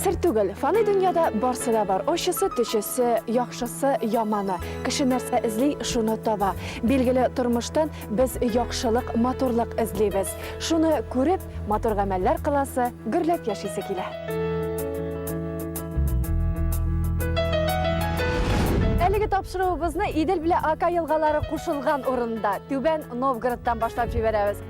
Сер түгел, фани дөньяда барсы да бар. Очысы, төчесе, яхшысы, яманы. Кеше нәрсә эзли, шуны таба. Билгеле, тормыштан без яхшылык, матурлык эзлибез. Шуны күреп, матур гамәлләр кыласы, гөрләп яшисе килә. Әлеге тапшыруыбызны Идел белән Ака елгалары кушылган урында, Түбән Новгородтан башлап җибәрәбез.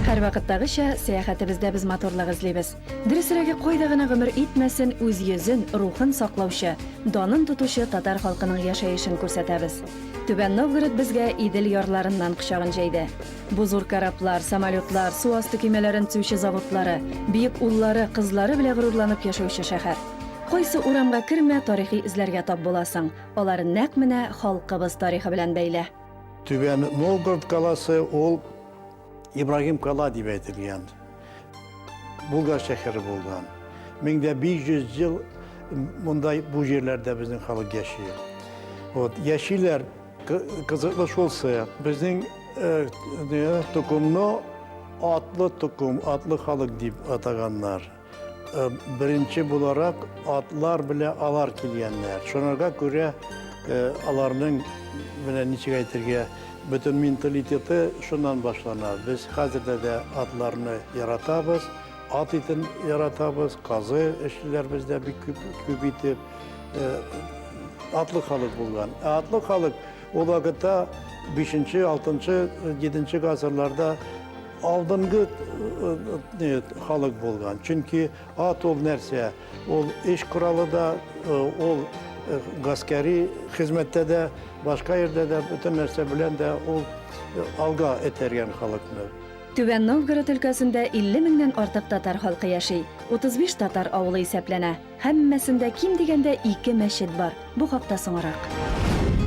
Һәрвакыттагыча, сәяхәтебездә без матурлык эзлибез. Дөресрәге, кайда гына гомер итмәсен, үз йөзен, рухын саклаучы, данын тотучы татар халкының яшәешен күрсәтәбез. Түбән Новгород безгә Идел ярларыннан кочагын җәйде. Бу зур кораблар, самолетлар, су асты көймәләрен төзүче заводлары, бөек уллары, кызлары белә горурланып яшәүче шәһәр. Кайсы урамга кермә, тарихи эзләргә тап буласың. Алар нәкъ менә халкыбыз тарихы белән бәйле. Түбән Новгород каласы ул. Ибрагим Кала дип әйтелгән. Булгар шәһәре булган. Меңдә 500 ел мондай бу җирләрдә безнең халык яши. Вот, яшиләр кызыклы шулсы. Безнең тукымны атлы тукым, атлы халык дип атаганнар. Э, беренче буларак атлар белә алар килгәннәр. Шунарга күрә э, аларның менә ничек әйтергә бөтен менталитеты шуннан башлана. Без хәзердә дә атларны яратабыз, ат итен яратабыз, казы эшлиләр бездә бик күп, күп итеп. Э, атлы халык булган. Ә атлы халык ул вакытта 5-6-7 гасырларда алдынгы халык булган. Чөнки ат ул нәрсә? Ул эш коралы да, ул гаскәри хезмәттә дә, башка ердә дә, бөтен нәрсә белән дә ул алга этәргән халыкны. Түбән Новгород өлкәсендә 50 меңнән артык татар халкы яши. 35 татар авылы исәпләнә. Һәммәсендә ким дигәндә ике мәчет бар. Бу хакта соңарак.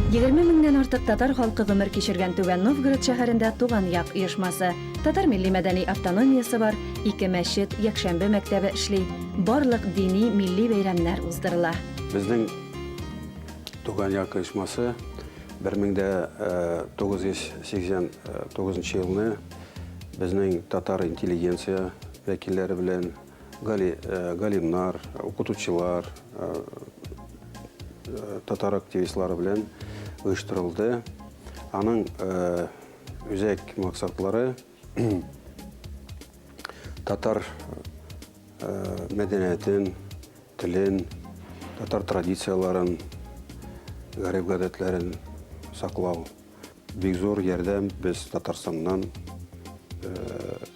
Егерме меңнән артык татар халкы гомер кичергән Түбән Новгород шәһәрендә Туган як оешмасы, татар милли-мәдәни автономиясе бар, ике мәчет, якшәмбе мәктәбе эшли, барлык дини, милли бәйрәмнәр уздырыла. Безнең Туган як оешмасы бер мең дә тугыз йөз сиксән тугызынчы елны безнең татар интеллигенция вәкилләре белән, Гали, э, галимнар, укытучылар, э, э, татар активистлары белән оештырылды. Аның э, үзәк максатлары татар э, мәдәниятен, телен, татар традицияларын, гарип гадәтләрен саклау. Бик зур ярдәм без Татарстаннан э,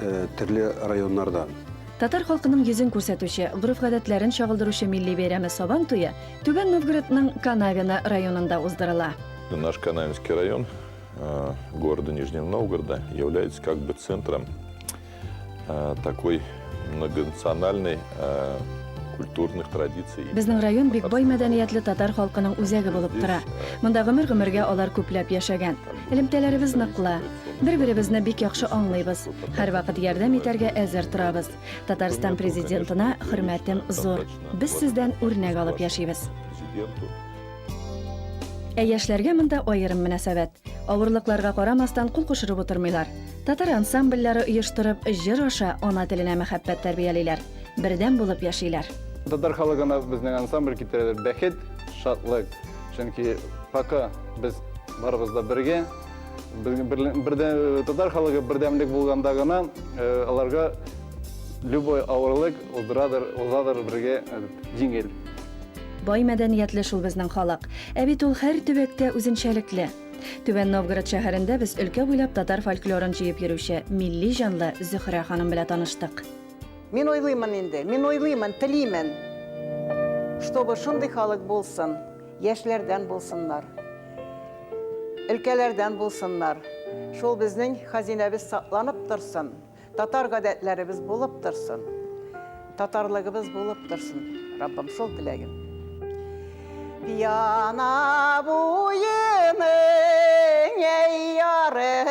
Э, төрле районнардан. Татар халкының йөзен күрсәтүче, гореф-гадәтләрен чагылдыручы милли бәйрәме Сабан туе Түбән Новгородның Канавино районында уздырыла. Наш Канавинский район э, города Нижнего Новгорода является как бы центром э, такой многонациональной культурных традиций. Безнең район бик бай мәдәниятле татар халкының үзәге булып тора. Монда гомер-гомергә алар күпләп яшәгән. Элемтәләребез ныклы. Бер-беребезне бик яхшы аңлыйбыз. Һәрвакыт ярдәм итәргә әзер торабыз. Татарстан Президентына хөрмәтем зур. Без сездән үрнәк алып яшибез. Ә яшьләргә монда аерым мөнәсәбәт. Авырлыкларга карамастан кул кушырып утырмыйлар. Татар ансамбльләре оештырып, җыр аша ана теленә мәхәббәт тәрбиялиләр. Бердәм булып яшиләр. Татар халыгына безнең ансамбль китерәләр бәхет, шатлык. Чөнки пока без барыбыз да бергә, татар халыгы бердәмлек булганда гына э, аларга любой авырлык узрадыр, узадыр бергә э, җиңел. Бай мәдәниятле шул безнең халык. Ә бит ул һәр төбәктә үзенчәлекле. Түбән Новгород шәһәрендә без өлкә буйлап татар фольклорын җыеп йөрүче милли җанлы Зөһрә ханым белән таныштык. Мин уйлыймын инде, мин уйлыймын, телимен, чтобы шундый халык булсын, яшьләрдән булсыннар, өлкәләрдән булсыннар, шул безнең хазинәбез сакланып торсын, татар гадәтләребез булып торсын, татарлыгыбыз булып торсын, Раббым, шул теләгем. Пияна буеның, әй ярый,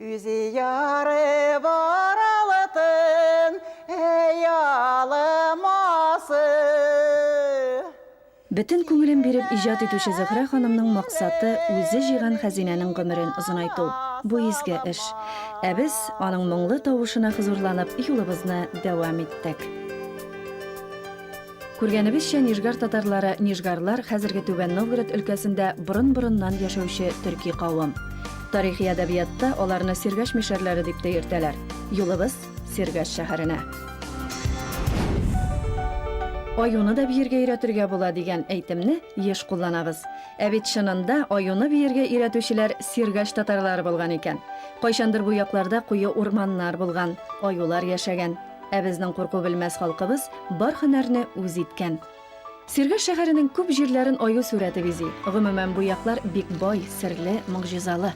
Үзе ярып аралытын, әй алымасы. Бөтен күңелен биреп иҗат итүче Зөһрә ханымның максаты, үзе җыйган хәзинәнең гомерен озынайту. Бу изге эш. Ә без, аның моңлы тавышына хозурланып, юлыбызны дәвам иттек. Күргәнебезчә, нижгар татарлары, нижгарлар, хәзерге Түбән Новгород өлкәсендә борын-борыннан яшәүче төрки кавым. Тарихи әдәбиятта аларны Сергәш мишәрләре дип тә йөртәләр. Юлыбыз Сергәш шәһәренә. Аюны да биергә өйрәтергә була, дигән әйтемне еш кулланабыз. Ә бит чынында аюны биергә өйрәтүчеләр Сергәш татарлары булган икән. Кайчандыр бу якларда куе урманнар булган, аюлар яшәгән. Ә безнең курку белмәс халкыбыз бар һөнәрне үз иткән. Сергаш шәһәренең күп җирләрен аю сурәте бизи. Гомумән, бу яклар бик бай, серле, могҗизалы.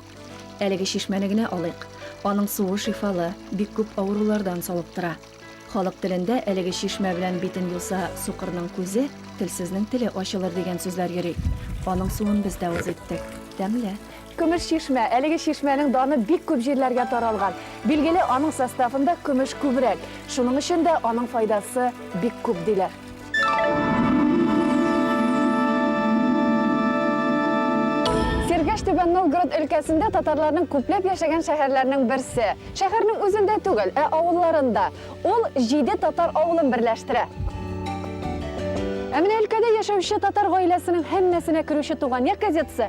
Әлеге чишмәне генә алыйк. Аның суы шифалы, бик күп авырулардан савыктыра. Халык телендә әлеге чишмә белән битен юса сукырның күзе, телсезнең теле ачылыр дигән сүзләр йөри. Аның суын без дә үз иттек. Тәмле. Көмеш чишмә. Әлеге чишмәнең даны бик күп җирләргә таралган. Билгеле, аның составында көмеш күбрәк. Шуның өчен дә аның файдасы бик күп, диләр. Сергәш Түбән Новгород өлкәсендә татарларның күпләп яшәгән шәһәрләренең берсе. Шәһәрнең үзендә түгел, ә авылларында. Ул җиде татар авылын берләштерә. Ә менә өлкәдә яшәүче татар гаиләсенең һәммәсенә керүче Туган як газетасы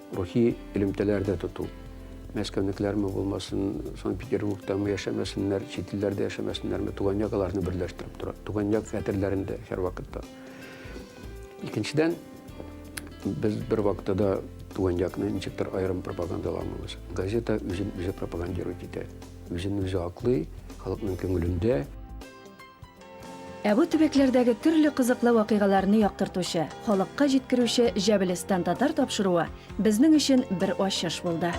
Рухи элемтәләр дә тоту. Мәскәүнекеләрме булмасын, Санкт-Петербургтамы яшәмәсеннәр, чит илләрдә яшәмәсеннәрме, туган як аларны берләштереп тора. Туган як хәтерләрендә һәрвакытта. Икенчедән, без бер вакытта да туган якны ничектер аерым пропагандаламыйбыз. Газета үзен үзе пропагандирует итә. Үзен үзе аклый, халыкның күңелендә. Ә бу төбәкләрдәге төрле кызыклы вакыйгаларны яктыртучы, халыкка җиткерүче Җәбелестан татар тапшыруы безнең өчен бер ачыш булды.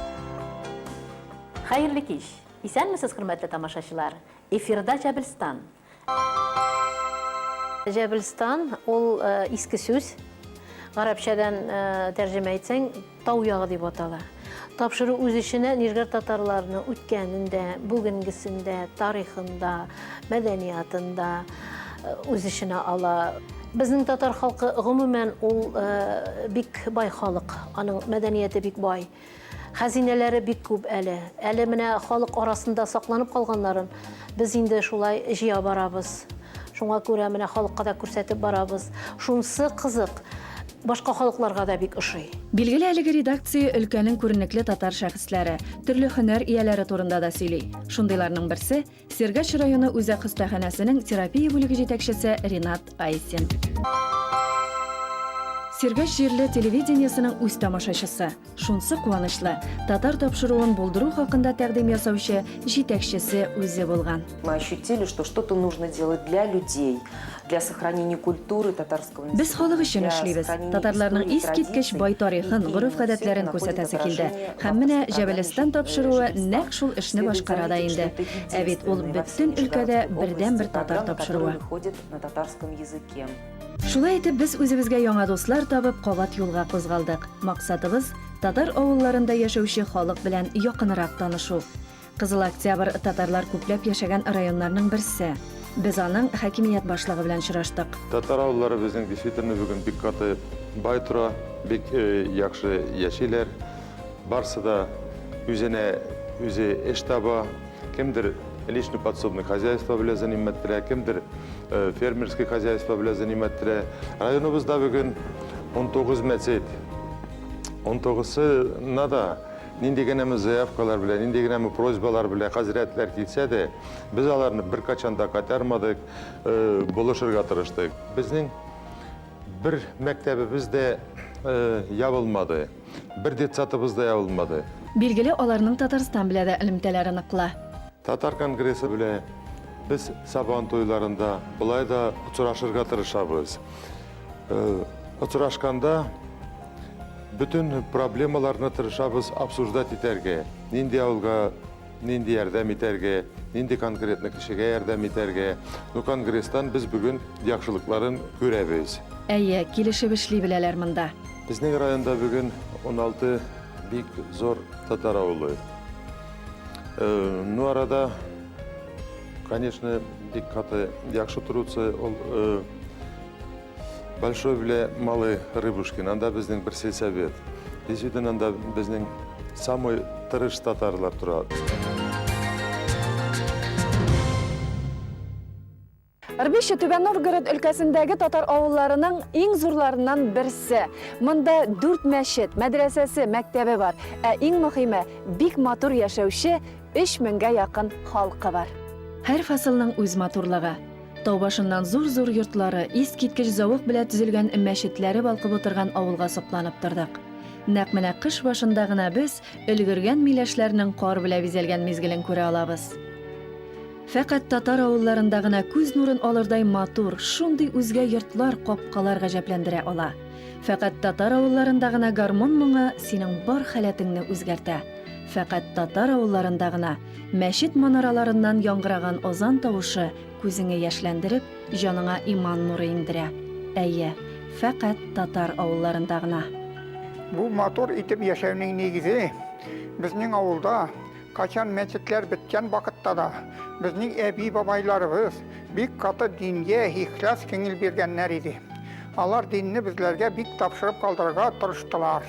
Хәерле кич! Исәнмесез, хөрмәтле тамашачылар! Эфирда Җәбелстан! Җәбелстан, ул иске сүз. Гарәпчәдән тәрҗемә итсәң, Тау ягы дип атала. Тапшыру үз эченә нижгар татарларының үткәнендә, бүгенгесендә, тарихында, мәдәниятында э, үз эченә ала. Безнең татар халкы гомумән ул э, бик бай халык, аның мәдәнияте бик бай. Хәзинәләре бик күп әле. Әле менә халык арасында сакланып калганнарын без инде шулай җыя барабыз. Шуңа күрә менә халыкка да күрсәтеп барабыз. Шунсы кызык, Башка халыкларга да бик ошый. Билгеле, әлеге редакция өлкәнең күренекле татар шәхесләре, төрле һөнәр ияләре турында да сөйли. Шундыйларның берсе, Сергач районы үзәк хастаханәсенең терапия бүлеге җитәкчесе Ринат Айсин. Сергач җирле телевидениесенең үз тамашачысы. Шунсы куанычлы, татар тапшыруын булдыру хакында тәкъдим ясаучы җитәкчесе үзе булган. Мы ощутили, что что-то нужно делать для людей, для сохранения культуры татарского населения. Без халык өчен эшлибез. Татарларның искиткеч бай тарихын, гореф-гадәтләрен күрсәтәсе килде. Һәм менә Җәбелестан тапшыруы нәкъ шул эшне башкара да инде. Ә бит ул бөтен өлкәдә бердәнбер татар тапшыруы. Шулай итеп, без үзебезгә яңа дуслар табып, кабат юлга кузгалдык. Максатыбыз, татар авылларында яшәүче халык белән якынрак танышу. Кызыл Октябрь татарлар күпләп яшәгән районнарның берсе. Без аның хакимият башлыгы белән очраштык. Татар авыллары безнең действительно бүген бик каты бай тора, бик яхшы яшиләр. Барсы да үзенә үзе эш таба. Кемдер личный подсобный хозяйство белән занимәтләндерә, кемдер э, фермерский хозяйство белән занимәтләндерә. Районыбызда бүген 19 мәчет. 19-сына да нинди генә мы заявкалар белән, нинди генә мы просьбалар белән хәзрәтләр килсә дә, без аларны беркайчан да кайтармадык, э, булышырга тырыштык. Безнең бер мәктәбебез дә э, ябылмады. Бер детсадыбыз да ябылмады. Билгеле, аларның Татарстан белә дә элемтәләре ныклы. Татар конгрессы белә без Сабан туйларында болай да очрашырга тырышабыз. Очрашканда бөтен проблемаларны тырышабыз обсуждать итәргә. Нинди авылга... Нинди ярдәм итәргә, нинди конкретно кешегә ярдәм итәргә. Ну, конгресстан без бүген яхшылыкларын күрәбез. Әйе, килешеп эшли беләләр монда. Безнең районда бүген 16 бик зур татар авылы. Э, ну, арада, конечно, бик каты яхшы торучы ул э, Большой белә Малый Рыбушкин, анда безнең бер сельсовет. Дисүден анда безнең самый тырыш татарлар тора. Рбище Түбән Новгород өлкәсендәге татар авылларының иң зурларыннан берсе. Монда дүрт мәчет, мәдрәсәсе, мәктәбе бар. Ә иң мөхиме, бик матур яшәүче 3000 меңгә якын халкы бар. Һәр фасылның үз матурлыгы. Тау башыннан зур-зур йортлары, искиткеч зәвык белә төзелгән мәчетләре балкып утырган авылга сокланып тордык. Нәкъ менә кыш башында гына без өлгергән миләшләрнең кар белә бизәлгән мизгелен күрә алабыз. Фәкать татар авылларында гына күз нурын алырдай матур, шундый үзгә йортлар, капкалар гаҗәпләндерә ала. Фәкать татар авылларында гына гармун моңы синең бар халәтеңне үзгәртә. Фәкать татар авылларында гына Мәчет манараларыннан яңгыраган азан тавышы күзеңе яшьләндереп, җаныңа иман нуры иңдерә. Әйе, фәкать татар авылларында гына. Бу матур итеп яшәүнең нигезе, безнең авылда кайчан мәчетләр беткән вакытта да, безнең әби-бабайларыбыз бик каты дингә ихлас киңел биргәннәр иде. Алар динне безләргә бик тапшырып калдырырга тырыштылар.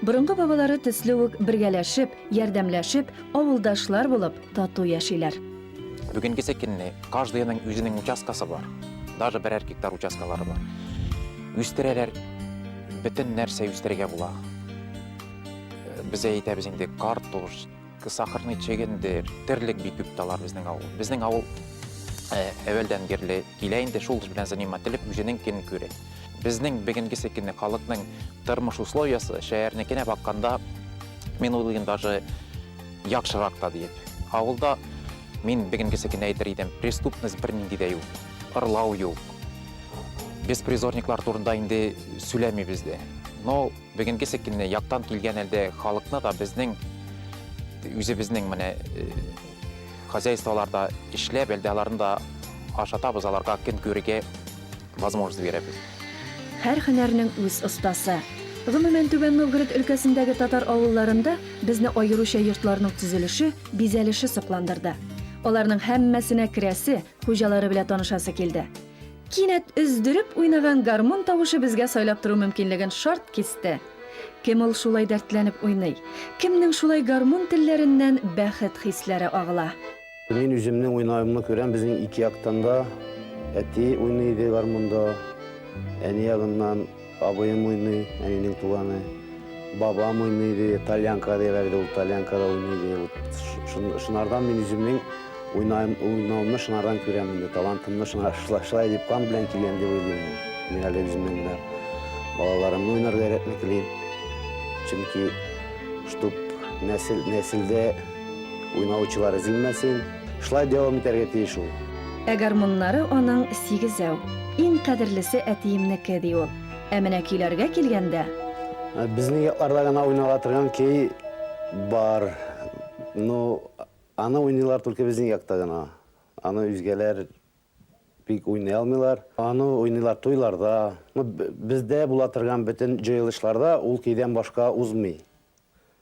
Борынгы бабалары төсле үк бергәләшеп, ярдәмләшеп, авылдашлар булып, тату яшиләр. Бүгенгесе көнне каждыйның үзенең участкасы бар. Даже берәр гектар участкалары бар. Үстерәләр, бөтен нәрсә үстерергә була. Без әйтәбез инде картуш, Сахарный чегендер, терлек бик күп талар безнең авыл. Безнең авыл әвәлдән бирле килә инде шул белән занимателеп үзенең көн күрә. Безнең бүгенге секенне халыкның тормыш условиясы шәһәрнекенә бакканда мин уйлыйм даже яхшырак та диеп. Авылда мин бүгенге секенне әйтер идем, преступность бернинди дә юк, ырлау юк. Беспризорниклар турында инде сөйләмибез дә. Но Бүгенгесе көнне яктан килгән әлде халыкны да безнең үзебезнең менә э, хозяйстволарда эшләп, әлде аларны да ашатабыз, аларга көн күрергә возможность бирәбез. Һәр һөнәрнең үз остасы. Гомумән, Түбән Новгород өлкәсендәге татар авылларында безне аеруча йортларның төзелеше, бизәлеше сокландырды. Аларның һәммәсенә керәсе, хуҗалары белән танышасы килде. Кинәт өздереп уйнаган гармун тавышы безгә сайлап тору мөмкинлеген шарт кисте. Кем ул шулай дәртләнеп уйный? Кемнең шулай гармун телләреннән бәхет хисләре агыла? Мин үземнең уйнавымны күрәм, безнең ике яктан да әти уйный иде гармунда, әни ягыннан. Абыем уйный, әнинең туганы. Бабам уйный иде, тальянка диләр иде, ул тальянкада уйный иде. Шынардан мин үземнең уйнавымны шынардан күрәм инде, талантымны шыңар шылай дип кан белән килгән дип уйлыйм. Мин әле үземнең генә балаларымны уйнарга өйрәтми килим. Чөнки, чтоб нәсел, нәселдә уйнаучылар өзелмәсен. Шулай дәвам итәргә тиеш ул. Ә гармуннары аның сигезәү. Иң кадерлесе әтиемнеке, ди ул. Ә менә көйләргә килгәндә. Безнең якларда гына уйнала торган көй бар. Ну, аны уйныйлар только безнең якта гына. Аны үзгәләр бик уйный алмыйлар. Аны уйныйлар туйларда. Ну, бездә була торган бөтен җыелышларда ул көйдән башка узмый.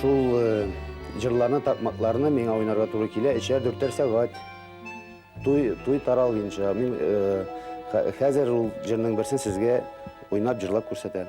Шул э, җырларны, такмакларны миңа уйнарга туры килә, өчәр-дүртәр сәгать. Туй, туй таралгынча. Мин э, хәзер ул җырның берсен сезгә уйнап, җырлап күрсәтәм.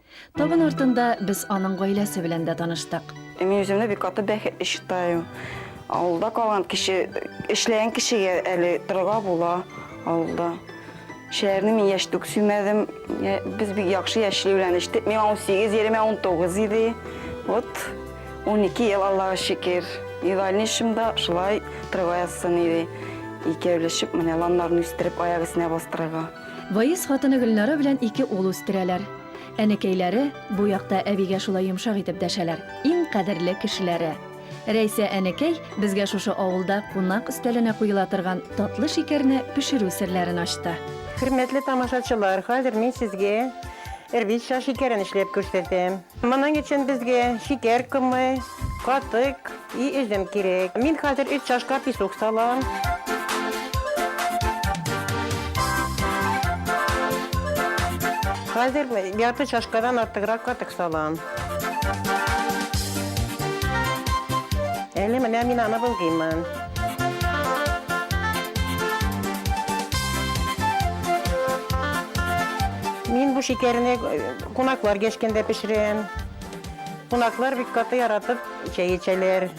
Табын артында без аның гаиләсе белән дә таныштык. Мин үземне бик каты бәхетле считаю. Авылда калган кеше, эшләгән кешегә әле торырга була авылда. Шәһәрне мин яшь түк сөймәдем. Без бик яхшы яшьли белән эчтек. Миңа 18, Еремә 19 иде. Вот 12 ел Аллага шөкер. Идеальный эшемдә шулай торырга язсын иде. Икәүләшеп менә ланнарны үстереп аяк өстенә бастырырга. Ваис хатыны Гөлнара белән ике ул үстерәләр. Әнекәйләре бу якта әбигә шулай йомшак итеп дәшәләр, иң кадерле кешеләре. Рәйсә әнекәй безгә шушы авылда кунак өстәленә куела торган татлы шикәрне пешерү серләрен ачты. Хөрмәтле тамашачылар, хәзер мин сезгә эрвитша шикәрен эшләп күрсәтәм. Моның өчен безгә шикәр комы, катык и өзем кирәк. Мин хәзер өч чашка песок салам. Хәзер ярты чашкадан артыграк катык салам. Әле менә мин аны болгыймын. Мин бу шикәрне Кунаклар гәшкәндә пешерәм. Кунаклар бик каты яратып чәй эчәләр.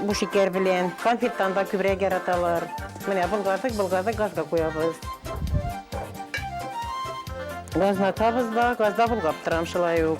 Бу шикәр белән. Конфеттан да күбрәк яраталар. Менә болгадык, болгадык газга куябыз. Газны атабыз да, газда болгап торам шулай ук.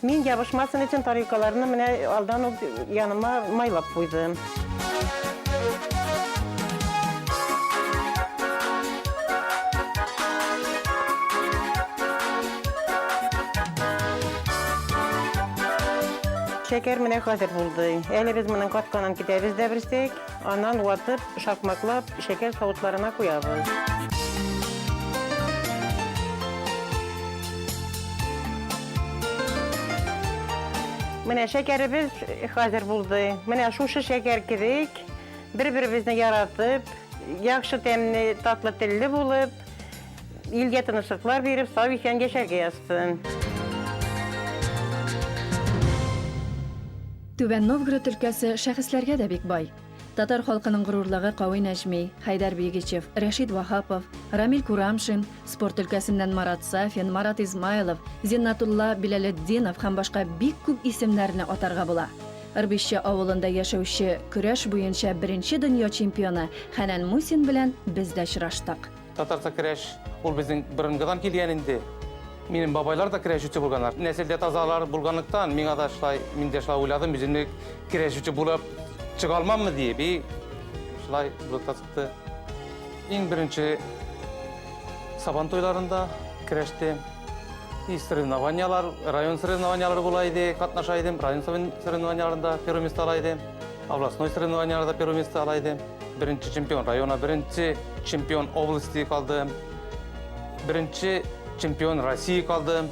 Мин ябышмасын өчен тарелкаларны менә алдан ук яныма майлап куйдым. Шәкәр менә хәзер булды. Әле без моның катканын көтәбез дә берсек. Аннан ватып, шакмаклап, шәкәр савытларына куябыз. Менә шәкәребез хәзер булды. Менә шушы шәкәр кебек бер-беребезне яратып, яхшы тәмле, татлы телле булып, илгә тынычлыклар биреп, сау-исән яшәргә язсын. Түбән Новгород өлкәсе шәхесләргә дә бик бай. Татар халкының горурлыгы Кави Нәҗми, Хәйдәр Бигичев, Рәшит Ваһапов, Рамил Курамшин, спорт өлкәсеннән Марат Сафин, Марат Измайлов, Зиннатулла Биләлетдинов һәм башка бик күп исемнәрне атарга була. Ырбишче авылында яшәүче көрәш буенча беренче дөнья чемпионы Хәнән Мусин белән без дә очраштык. Татарча керәш ул безнең борынгыдан килгән инде. Минем бабайлар да керәшүче булганнар. Нәселдә тазалар булганлыктан, миңа да шулай, мин дә шулай уйладым, үземне керәшүче булып чыга алмаммы диеп, и шулай булып та чыкты. Иң беренче сабан туйларында керәште. И соревнованиялар, район соревнованиялары була иде, катнаша идем, район соревнованияларында первый места ала идем. Областной соревнованияләрдә первое место ала иде. Беренче чемпион района, беренче чемпион области калды. Беренче чемпион России калды.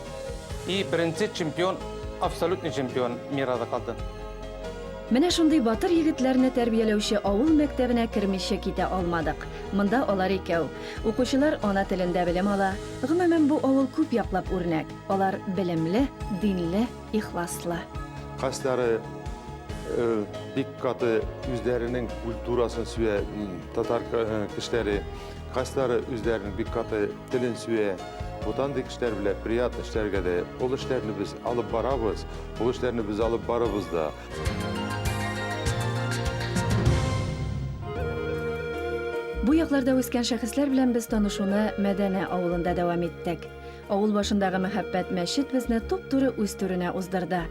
И беренче чемпион, абсолютный чемпион мира да калды. Менә шундый батыр егетләрне тәрбияләүче авыл мәктәбенә кермичә китә алмадык. Монда алар икәү. Укучылар ана телендә белем ала. Гомумән, бу авыл күп яклап үрнәк. Алар белемле, динле, ихласлы. Кайсылары бик каты үзләренең культурасын сөя татар кешеләре, кайсылары үзләренең бик каты телен сөя. Вот андый кешеләр белән приятно эшләргә дә. Ул эшләрне без алып барабыз, ул эшләрне без алып барыбыз да. Бу якларда үскән шәхесләр белән без танышуны Мәдәнә авылында дәвам иттек. Авыл башындагы мәхәббәт мәчет безне туп-туры үз түренә уздырды.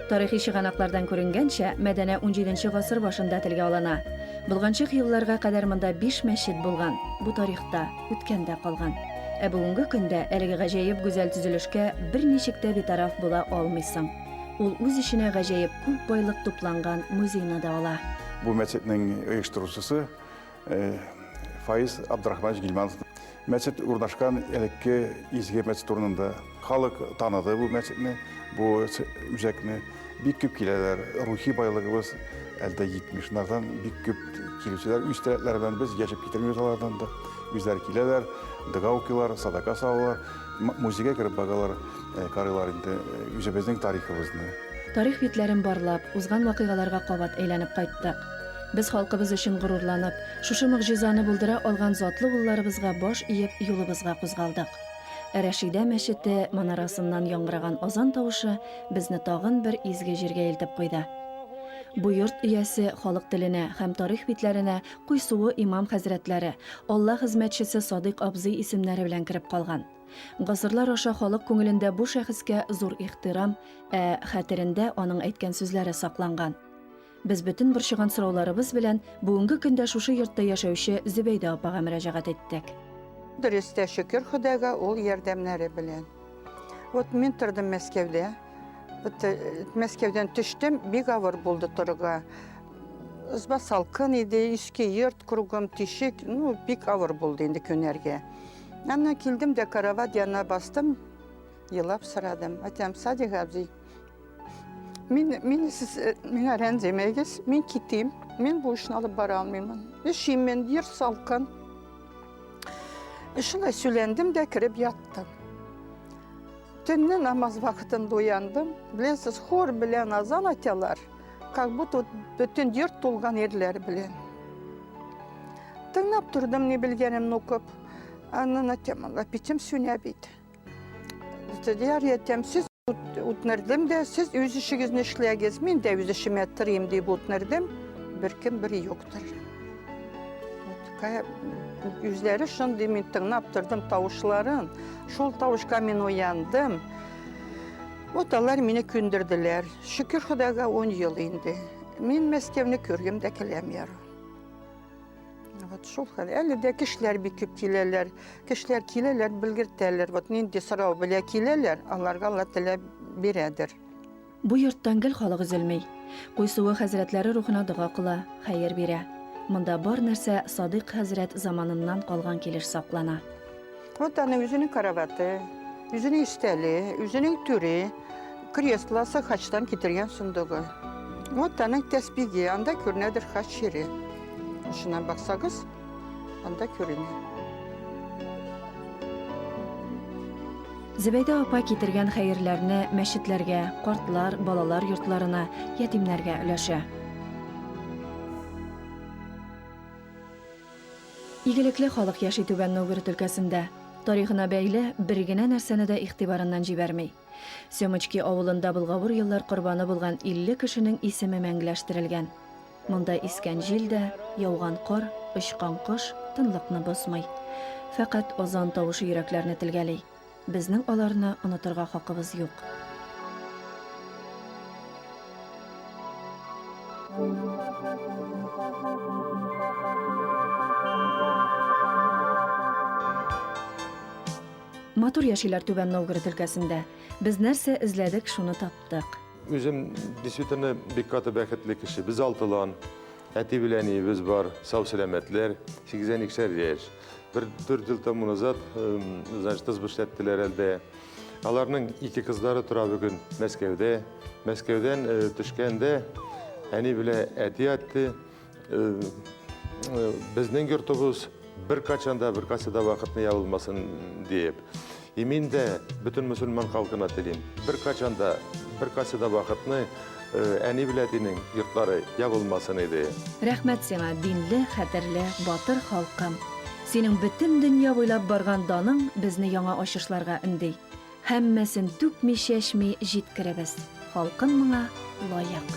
Тарихи чыганаклардан күренгәнчә, Мәдәнә унҗиденче гасыр башында телгә алына. Болганчык елларга кадәр монда биш мәчет булган. Бу тарихта, үткәндә калган. Ә бүгенге көндә әлеге гаҗәеп гүзәл төзелешкә берничек тә битараф була алмыйсың. Ул үз эченә гаҗәеп күп байлык тупланган музейны да ала. Бу мәчетнең оештыручысы Фаиз Абдрахманович Гильманов мәчет урнашкан элекке изге мәчет урынында. Халык таныды бу мәчетне, бу үзәкне. Бик күп киләләр. Рухи байлыгыбыз әлдә 70-нардан бик күп килүчеләр үз теләкләре белән без яшәп китермибез алардан да. Үзләре киләләр, дога укыйлар, садака салалар, музейга кереп багалар, карыйлар инде үзебезнең тарихыбызны. Тарих битләрен барлап, узган вакыйгаларга кабат әйләнеп кайттык. Без халкыбыз өчен горурланып, шушы могҗизаны булдыра алган затлы улларыбызга баш иеп юлыбызга кузгалдык. Ә Рәшидә мәчете манарасыннан яңгыраган азан тавышы безне тагын бер изге җиргә илтеп куйды. Бу йорт иясе халык теленә һәм тарих битләренә Куйсуы имам хәзрәтләре, Алла хезмәтчесе Садыйк абзый исемнәре белән кереп калган. Гасырлар аша халык күңелендә бу шәхескә зур ихтирам, ә хәтерендә аның әйткән сүзләре сакланган. Без бөтен борчыган сорауларыбыз белән бүгенге көндә шушы йортта яшәүче Зөбәйдә апага мөрәҗәгать иттек. Дөрес тә шөкер Ходайга ул ярдәмнәре белән. Вот мин тордым Мәскәүдә. Вот э, Мәскәүдән төштем, бик авыр булды торырга. Ызба салкын иде, иске йорт, кругом тишек, ну, бик авыр булды инде көнәргә. Аннан килдем дә карават янына бастым, елап сорадым. Айтам, Садик абзый, Мин, мин сез э, миңа рәнҗемәгез, мин китим. Мин бу эшне алып бара алмыймын. Эшим мин, ер салкын. Шулай сөйләндем дә кереп яттым. Төнне намаз вакытында уяндым. Беләсез, хор белән азан аталар, как будто бөтен йорт тулган ирләр белән. Тыңлап тордым, ни белгәнемне укып. Аннан атам, Алла, битем сүнә бит. Дияр ятам, сез Үтнердем дә, сез үз эшегезне эшләгез, мин дә үз эшемә тырыйм дип үтнердем. Беркем бер юктыр. Үзләре шундый мин тыңлап тордым тавышларын. Шул тавышка мин уяндым. Вот алар мине көндерделәр. Шөкер Худайга 10 ел инде. Мин Мәскәүне күргем дә киләм ярым. Вот шул хәл. Әле дә кешеләр бик күп киләләр. Кешеләр киләләр, белгертәләр. Вот нинди сорау белә киләләр, аларга Алла теләп бирәдер. Бу йорттан гел халык өзелми. Куйсуы хәзрәтләре рухына дога кыла, хәер бирә. Монда бар нәрсә Садыйк хәзрәт заманыннан калган килеш саклана. Вот аны үзенең караваты, үзенең истәле, үзенең түре, креслосы, хачтан китергән сундугы. Вот аның тәспиге, анда күренәдер хач шире. Шуннан баксагыз, анда күренә. Зәбәйдә апа китергән хәерләрне мәчетләргә, картлар, балалар йортларына, ятимнәргә өләшә. Игелекле халык яши Түбән Новгород өлкәсендә. Тарихына бәйле бер генә нәрсәне дә игътибарыннан җибәрми. Сёмочки авылында былгавыр еллар корбаны булган 50 кешенең исеме мәңгеләштерелгән. Монда искән җил дә, яуган кар, очкан кош тынлыкны бозмый. Фәкать азан тавышы йөрәкләрне телгәли. Безнең аларны онытырга хакыбыз юк. Матур яшиләр Түбән Новгород өлкәсендә. Без нәрсә эзләдек, шуны таптык. Үзем действительно бик каты бәхетле кеше. Без алтылан, әти белән әниебез бар, сау-сәламәтләр, 82 яшь. Бер дүрт ел тому назад, эм, значит, тыз эшләттеләр әлдә. Аларның ике кызлары тора бүген Мәскәүдә. Мәскәүдән э, төшкәндә әни белә әти әтте. э, э, Безнең йортыбыз бер качанда, бер касада вакытны ябылмасын диеп. И мин дә бөтен мөселман халкына телим, беркайчан да, бер кайсы да вакытны әни белән әтинең йортлары ябылмасын иде. Рәхмәт сиңа, динле, хәтерле, батыр халкым! Синең бөтен дөнья буйлап барган даның безне яңа ачышларга өнди. Һәммәсен түкми-чәчми җиткеребез. Халкым моңа лаек.